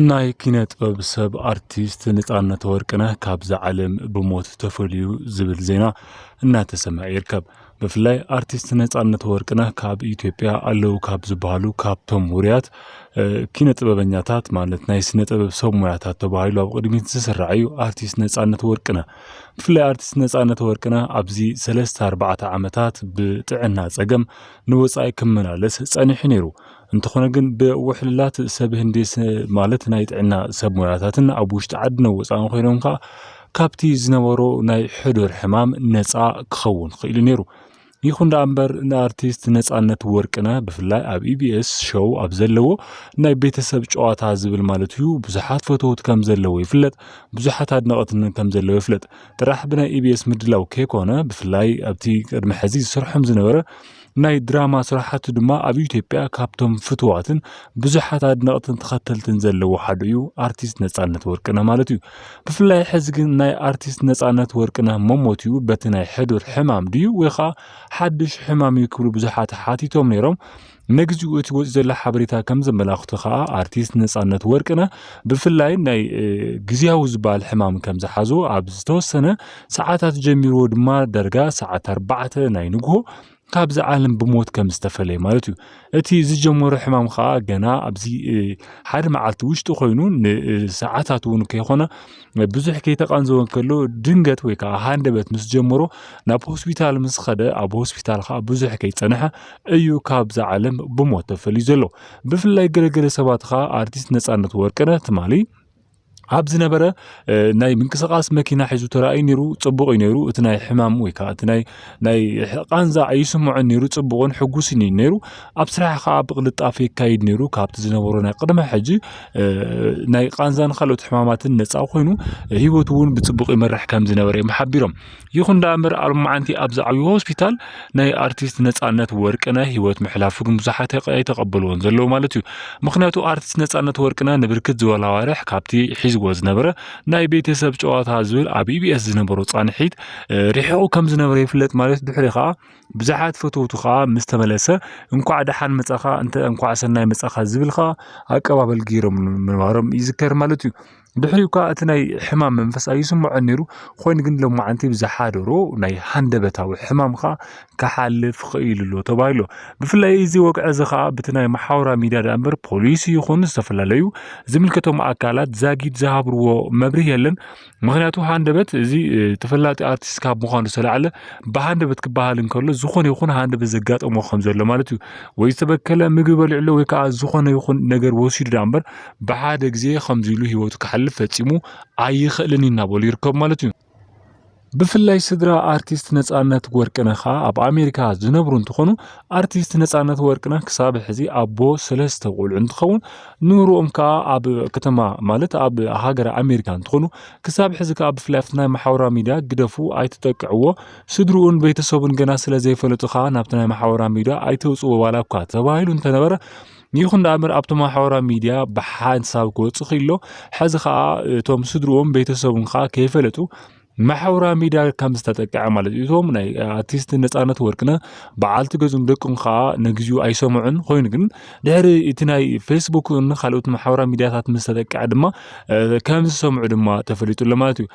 ናይ ኪነ ጥበብ ሰብ ኣርቲስት ነፃነት ወርቅነህ ካብዛ ዓለም ብሞት ተፈልዩ ዝብል ዜና እናተሰምዐ ይርከብ። ብፍላይ ኣርቲስት ነፃነት ወርቅነህ ካብ ኢትዮጵያ ኣለው ካብ ዝበሃሉ ካብቶም ውርያት ኪነ ጥበበኛታት ማለት ናይ ስነ ጥበብ ሰብ ሙያታት ተባሂሉ ኣብ ቅድሚት ዝስራዕ እዩ ኣርቲስት ነፃነት ወርቅነህ። ብፍላይ ኣርቲስት ነፃነት ወርቅነህ ኣብዚ ሰለስተ ኣርባዕተ ዓመታት ብጥዕና ፀገም ንወፃኢ ክመላለስ ፀኒሑ ነይሩ። እንተኾነ ግን ብውሕልላት ሰብ ህንዲ ማለት ናይ ጥዕና ሰብ ሞያታትን ኣብ ውሽጢ ዓድን ወፃእን ኮይኖም ከዓ ካብቲ ዝነበሮ ናይ ሕዱር ሕማም ነፃ ክኸውን ክኢሉ ነይሩ። ይኹን ደኣ እምበር ንኣርቲስት ነፃነት ወርቅነህ ብፍላይ ኣብ ኢቢኤስ ሾው ኣብ ዘለዎ ናይ ቤተሰብ ጨዋታ ዝብል ማለት እዩ ብዙሓት ፈተውት ከም ዘለዎ ይፍለጥ፣ ብዙሓት ኣድነቕትን ከም ዘለዎ ይፍለጥ። ጥራሕ ብናይ ኢቢኤስ ምድላው ከይኮነ ብፍላይ ኣብቲ ቅድሚ ሕዚ ዝሰርሖም ዝነበረ ናይ ድራማ ስራሓቱ ድማ ኣብ ኢትዮጵያ ካብቶም ፍትዋትን ብዙሓት ኣድነቕትን ተኸተልትን ዘለዎ ሓደ እዩ ኣርቲስት ነጻነት ወርቅነህ ማለት እዩ። ብፍላይ ሕዚ ግን ናይ ኣርቲስት ነጻነት ወርቅነህ መሞት እዩ በቲ ናይ ሕዱር ሕማም ድዩ ወይ ከዓ ሓድሽ ሕማም እዩ ክብሉ ብዙሓት ሓቲቶም ነይሮም። ንግዚኡ እቲ ወፂ ዘሎ ሓበሬታ ከም ዘመላኽቶ ከዓ ኣርቲስት ነጻነት ወርቅነህ ብፍላይ ናይ ግዜያዊ ዝበሃል ሕማም ከም ዝሓዞ ኣብ ዝተወሰነ ሰዓታት ጀሚርዎ ድማ ዳርጋ ሰዓት ኣርባዕተ ናይ ንግሆ ካብዚ ዓለም ብሞት ከም ዝተፈለየ ማለት እዩ እቲ ዝጀመሮ ሕማም ከዓ ገና ኣብዚ ሓደ መዓልቲ ውሽጢ ኮይኑ ንሰዓታት እውን ከይኮነ ብዙሕ ከይተቃንዘወ ከሎ ድንገት ወይ ከዓ ሃንደበት ምስ ጀመሮ ናብ ሆስፒታል ምስ ኸደ ኣብ ሆስፒታል ከዓ ብዙሕ ከይፀንሐ እዩ ካብዚ ዓለም ብሞት ተፈልዩ ዘሎ ብፍላይ ገለገለ ሰባት ከዓ ኣርቲስት ነፃነት ወርቅነ ትማሊ ኣብ ዝነበረ ናይ ምንቅስቃስ መኪና ሒዙ ተራእዩ ነይሩ ጽቡቅ እዩ ነይሩ እቲ ናይ ሕማም ወይ ከዓ እቲ ናይ ናይ ቃንዛ ኣይስምዖን ነይሩ ጽቡቅን ሕጉስን እዩ ነይሩ ኣብ ስራሕ ከዓ ብቅልጣፈ የካይድ ነይሩ ካብቲ ዝነበሮ ናይ ቅድመ ሕጂ ናይ ቃንዛን ካልኦት ሕማማትን ነፃ ኮይኑ ሂወት እውን ብጽቡቅ ይመርሕ ከም ዝነበረ እዮም ሓቢሮም ይኹን ደኣምበር ኣብ መዓንቲ ኣብ ዝዓብዩ ሆስፒታል ናይ ኣርቲስት ነፃነት ወርቅነህ ህይወት ምሕላፉ ግን ብዙሓት ኣይተቐበልዎን ዘለዉ ማለት እዩ ምክንያቱ ኣርቲስት ነፃነት ወርቅነህ ንብርክት ዝበሉ ኣዋርሕ ካብቲ ሒዝዎ ዝነበረ ናይ ቤተሰብ ጨዋታ ዝብል ኣብ ኢቢኤስ ዝነበሮ ፃንሒት ርሒቑ ከም ዝነበረ ይፍለጥ ማለት ድሕሪ ከዓ ብዙሓት ፈተውቱ ከዓ ምስ ተመለሰ እንኳዕ ደሓን መፃኻ እንተ እንኳዕ ሰናይ መፃኻ ዝብል ከዓ ኣቀባበል ገይሮም ምንባሮም ይዝከር ማለት እዩ ድሕሪኡ እኳ እቲ ናይ ሕማም መንፈስ ኣይስምዖ ነይሩ ኮይኑ ግን ሎማዓንቲ ብዝሓደሮ ናይ ሃንደበታዊ ሕማም ከዓ ክሓልፍ ክኢሉ ኣሎ ተባሂሎ ብፍላይ እዚ ወግዒ እዚ ከዓ ብቲ ናይ መሓውራ ሚድያ ዳኣ እምበር ፖሊስ ይኹን ዝተፈላለዩ ዝምልከቶም ኣካላት ዛጊድ ዝሃብርዎ መብርህ የለን ምክንያቱ ሃንደበት እዚ ተፈላጢ ኣርቲስት ካብ ምዃኑ ዝተላዕለ ብሃንደበት ክበሃል እንከሎ ዝኾነ ይኹን ሃንደበት ዘጋጠሞ ከም ዘሎ ማለት እዩ ወይ ዝተበከለ ምግቢ በሊዕሎ ወይ ከዓ ዝኾነ ይኹን ነገር ወሲዱ ዳኣ እምበር ብሓደ ግዜ ከምዚ ኢሉ ህይወቱ ክሓልፍ ፈጺሙ ኣይኽእልን እዩ እናበሉ ይርከቡ ማለት እዩ። ብፍላይ ስድራ ኣርቲስት ነፃነት ወርቅነህ ከዓ ኣብ ኣሜሪካ ዝነብሩ እንትኾኑ ኣርቲስት ነፃነት ወርቅነህ ክሳብ ሕዚ ኣቦ ሰለስተ ቆልዑ እንትኸውን ንብርኦም ከዓ ኣብ ከተማ ማለት ኣብ ሃገረ ኣሜሪካ እንትኾኑ ክሳብ ሕዚ ከዓ ብፍላይ ኣብቲ ናይ ማሕበራዊ ሚዲያ ግደፉ ኣይትጠቅዕዎ ስድርኡን ቤተሰቡን ገና ስለ ዘይፈለጡ ከዓ ናብቲ ናይ ማሕበራዊ ሚዲያ ኣይተውፅዎ ዋላ እኳ ተባሂሉ እንተነበረ ይኹን ዳኣምር ኣብቲ ማሕበራዊ ሚድያ ብሓንሳብ ክወፁ ክኢሎ ሕዚ ከዓ እቶም ስድርኦም ቤተሰቡን ከዓ ከይፈለጡ ማሕበራዊ ሚድያ ከም ዝተጠቅዐ ማለት እዩ እቶም ናይ ኣርቲስት ነፃነት ወርቅነ በዓልቲ ገዙን ደቅም ከዓ ንግዚኡ ኣይሰምዑን ኮይኑ ግን ድሕሪ እቲ ናይ ፌስቡክ ካልኦት ማሕበራዊ ሚድያታት ምስ ተጠቅዐ ድማ ከም ዝሰምዑ ድማ ተፈሊጡ ኣሎ ማለት እዩ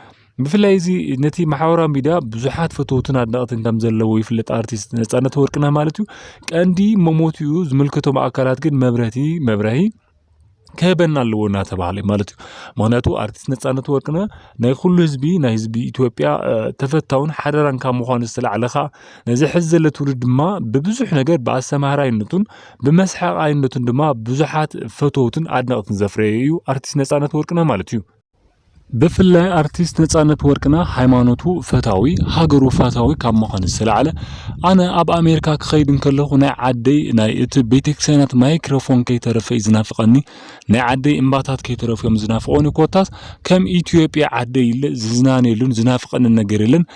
ብፍላይ እዚ ነቲ ማሕበራዊ ሚድያ ብዙሓት ፈተውትን ኣድነቕትን ከም ዘለዎ ይፍለጥ ኣርቲስት ነፃነት ወርቅነህ ማለት እዩ ቀንዲ መሞትኡ ዝምልከቶም ኣካላት ግን መብረቲ መብረሂ ክህበና ኣለዎ እናተባሃለ እዩ ማለት እዩ ምክንያቱ ኣርቲስት ነፃነት ወርቅነ ናይ ኩሉ ህዝቢ ናይ ህዝቢ ኢትዮጵያ ተፈታውን ሓደራን ካብ ምኳኑ ዝተላዕለ ከዓ ነዚ ሕዚ ዘሎ ትውልድ ድማ ብብዙሕ ነገር ብኣሰማህራይነቱን ብመስሓቃይነቱን ድማ ብዙሓት ፈተውትን ኣድነቕትን ዘፍረየ እዩ ኣርቲስት ነፃነት ወርቅነ ማለት እዩ ብፍላይ ኣርቲስት ነፃነት ወርቅነህ ሃይማኖቱ ፈታዊ ሃገሩ ፋታዊ ካብ ምዃን ዝተላዕለ ኣነ ኣብ ኣሜሪካ ክኸይድ እንከለኹ ናይ ዓደይ ናይ እቲ ቤተክርስቲያናት ማይክረፎን ከይተረፈ እዩ ዝናፍቐኒ ናይ ዓደይ እምባታት ከይተረፉ እዮም ዝናፍቐኒ ኮታስ ከም ኢትዮጵያ ዓደይ ኢለ ዝዝናነየሉን ዝናፍቐንን ነገር የለን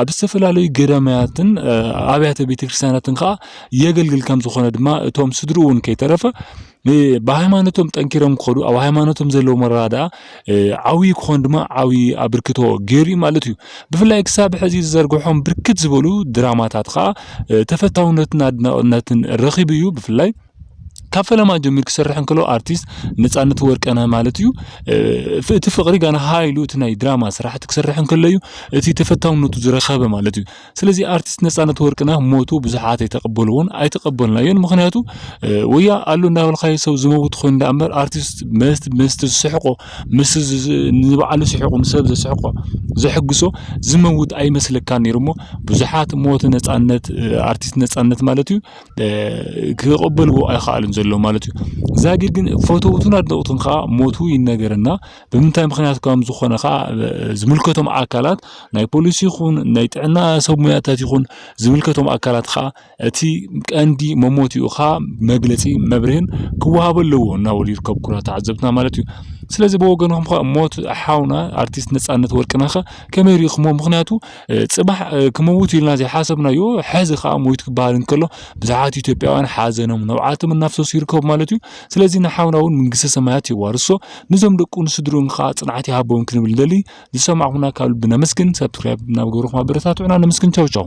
ኣብ ዝተፈላለዩ ገዳማያትን ኣብያተ ቤተክርስትያናትን ከዓ የገልግል ከም ዝኾነ ድማ እቶም ስድሩ እውን ከይተረፈ ብሃይማኖቶም ጠንኪሮም ክኸዱ ኣብ ሃይማኖቶም ዘለዎም ኣረዳድኣ ዓብዪ ክኾን ድማ ዓብዪ ኣበርክቶ ገይሩ እዩ ማለት እዩ ብፍላይ ክሳብ ሕዚ ዝዘርግሖም ብርክት ዝበሉ ድራማታት ከዓ ተፈታውነትን ኣድናቕነትን ረኺቡ እዩ ብፍላይ ካብ ፈለማ ጀሚሩ ክሰርሕ እንከሎ ኣርቲስት ነፃነት ወርቅነህ ማለት እዩ እቲ ፍቅሪ ጋና ሃይሉ እቲ ናይ ድራማ ስራሕቲ ክሰርሕ እንከሎ እዩ እቲ ተፈታውነቱ ዝረኸበ ማለት እዩ ስለዚ ኣርቲስት ነፃነት ወርቅነህ ሞቱ ብዙሓት ኣይተቀበልዎን ኣይተቀበልናዮን ምክንያቱ ወያ ኣሎ እንዳበልካዮ ሰብ ዝመውት ኮይኑ ዳኣ እምበር ኣርቲስት መስት መስት ዝስሕቆ ምስ ንባዕሉ ስሕቁ ንሰብ ዘስሕቆ ዘሕግሶ ዝመውት ኣይመስለካን ነይሩ እሞ ብዙሓት ሞት ነፃነት ኣርቲስት ነፃነት ማለት እዩ ክቕበልዎ ኣይኸኣሉን ዘሎ ማለት እዩ ዛጊ ግን ፈተውቱን ኣድነቕቱን ከዓ ሞቱ ይነገረና ብምንታይ ምክንያት ከም ዝኾነ ከዓ ዝምልከቶም ኣካላት ናይ ፖሊስ ይኹን ናይ ጥዕና ሰብ ሙያታት ይኹን ዝምልከቶም ኣካላት ከዓ እቲ ቀንዲ መሞቲኡ ከዓ መግለፂ መብርህን ክወሃበ ኣለዎ እናበሉ ይርከቡ ኩራ ተዓዘብትና ማለት እዩ ስለዚ ብወገንኹም ከዓ ሞት ሓውና ኣርቲስት ነፃነት ወርቅነህ ከመይ ሪእኹሞ ምክንያቱ ጽባሕ ክመውት ኢልና ዘይሓሰብናዮ ሕዚ ከዓ ሞይት ክበሃል እንከሎ ብዙሓት ኢትዮጵያውያን ሓዘኖም ነብዓቶም እናፍሰሱ ይርከቡ ማለት እዩ ስለዚ ንሓውና እውን መንግስተ ሰማያት የዋርሶ ንዞም ደቁ ንስድርኡን ከዓ ጽንዓት ይሃቦም ክንብል ንደሊ ዝሰማዕኹምና ካብ ልቢ ነመስግን ሰብስክራይብ እናገበርኹም ኣበረታትዑና ነመስግን ቻው ቻው